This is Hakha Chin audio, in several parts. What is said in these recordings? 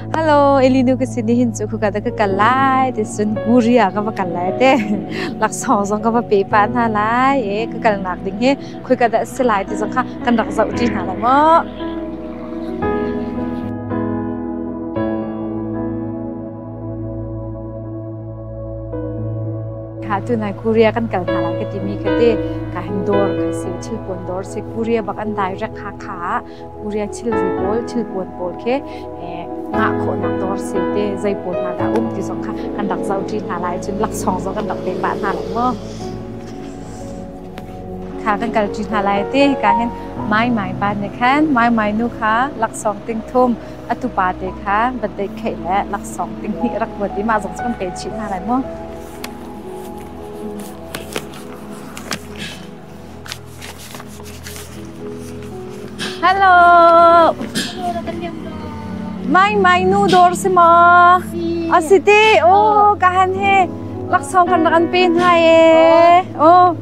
Hello, Elinu ka sin nihin cu khuka da ka kal lai ti cun Guria ka va kal lai te. Laksawng zong ka va pe pa hna lai. E ka kalnak ding hi khuika da si lai ti zong kha kan rak zoh ṭi hna lo maw? Kha tu nai Korea kan kal hna lai ka timi kha te ka hin dawr kan si thil pun dawr si Korea bak an direct Hakha uriah thilri pawl, thilpuan pawl khi ngah khawhnak dawr si te zei pawl hna dah um ti zong kha kan rak zohṭi hna lai. Cun laksawng zong kan rak pek pah hna lo maw? Kha kan kalṭi hna lai ti hika hin Mai Mai pa nih khan Mai Mai nu kha laksawng ting thum a tupa te kha va deikheih le laksawng ting hnih rak vuat i mah zong cu kan pe chih hna lai maw? Hello. Mai mai nu dor si ma. Asi ti oh ka han he laksong kan rak an pe hna e. Oh.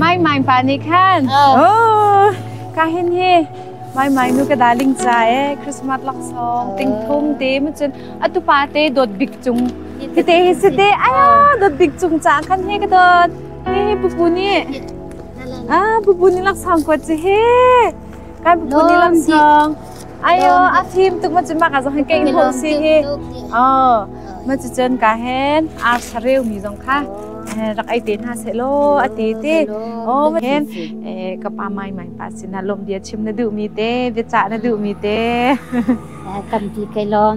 Mai mai pa ni khan. Oh. Ka hin he mai mai nu ka darling cha e Christmas laksong ting thung te ma chun atu pa te dot big chung. Hite hi si te aya dot big chung cha khan he ka dot. Hei pupu nih ah pupu nih laksawng kuat ci he kan pupu nih lam dong ayo a fim tuk ma cu ma ka zong han keng hong si hi oh ma cu cun ka hen ar sareu mi zong kha rak ai te hna se lo a ti ti oh hen ka pa mai mai pa sina lom dia chim na duh mi te bia cha na duh mi te kan ti kai lom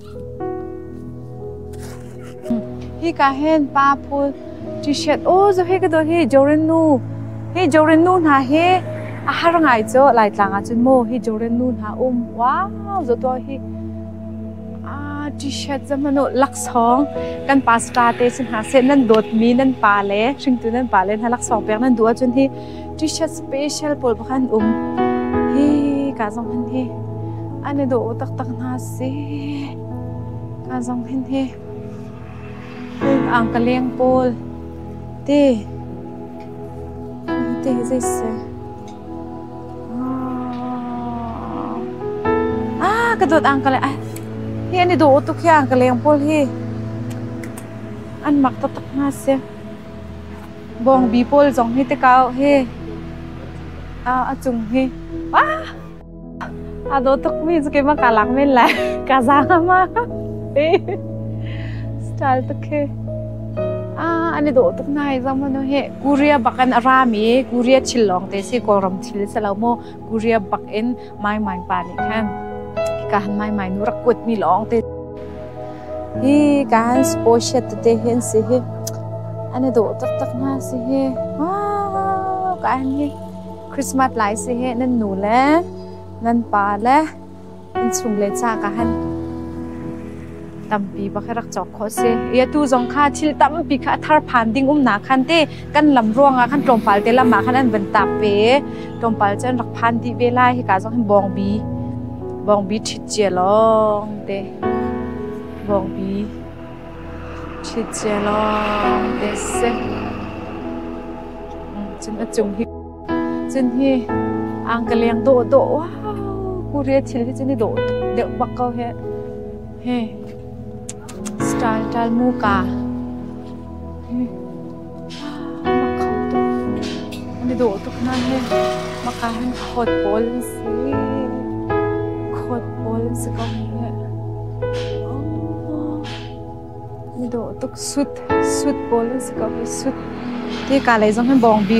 Hika hen pa phul t-shirt aw zo he ka dawt hi Jorin nu hi Jorin nu hna hi a har ngai cho Laitlang ah cun mo hi Jorin nu hna um wow zo to hi ah t-shirt za hmano laksawng kan pa star te sin ha se nan dawt mi nan pa le hringtu nan pa le hna laksawng pek nan duh ahcun hi T-shirt special pawl pakhat an um. Hi ka zong hin hi an i dawh taktak hna si. Ka zong hin hi ang ka leng pawl te te zese ah ka dot ang ka le ai hi ani do tuk hiang ka leng pol hi an mak ta tak na se Bawngbi pawl zong hi tikau hi a cung hi aa daw tukmi cu keimah kaa lak men lai. Kaa zaang a ma ti. Style tuk hi. Ah, ani daw tuk nai zong manu hi Korea bak in a rami Korea thil lawng te si Kawlram thil si lo mu Korea bak in maimai pa nih khan hikaan maimai nu rak kuat mi lawng te hi kan sposhet te hin si hi ani do tak tak na si hi ah kan hi christmas lai si hi nan nu le nan pa le in chung le cha ka han tampi bak hi rak cawk khawh a si. I atu zong kha thil tampi kha a thar phan ding umnak khan te kan lam ruangah khan tlawmpal te lam ah khan an van taak ve i tlawmpal cu an rak phan dih ve lai hika zong hin bawngbi bawngbi ṭhit cia lawng te bawngbi ṭhit cia lawng te a si. Mm, cun a cung hi Cun hi ang ka leng dawhdawh wow Korea thil hi cun i dawh deuh bak ko hi. He style style muka. Mak kho tuk. An i dawh tuk na he maka han khawt pawl an si. Khawt pawl an si ko he. Ni dawh tuk sut sut pawl an si ko hi sut. Hi ka lei zong hin bawng bi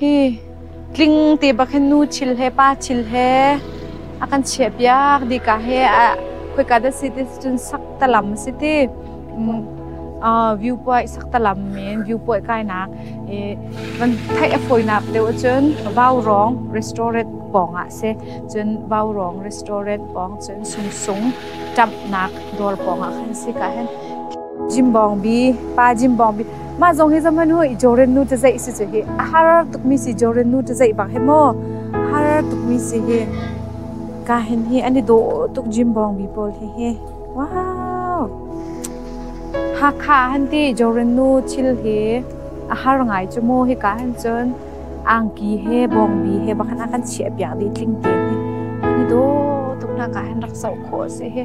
Hi tling te bak hin nu thil he pa thil he a kan chiahpiak dika he a khoika dah si ti cun sak ta lam a si ti. Umm ah viewpoint sak ta lam men viewpoint kainak i van theih a fawinak deuh cun Vaurong restaurant pawng ah si cun Vaurong restaurant pawng cun sungsung ṭamhnak dawr pawng ah khan si ka hen. Jimbawngbi pa Jimbawngbi Mah zong hi zahman hu i joren nu tazeih si cu hi a har tukmi si joren nu tazeih bak hi maw a har tukmi si hi ka hin hi an i dawh tuk gym bawngbi pawl hi hi wow Hakha han ti joren nu thil hi a har ngai cu mu hi ka han cun angki he bawngbi he bakhan a kan chiah piak dih tling te hi an i daw tuk nak ah han rak zoh khawh a si hi.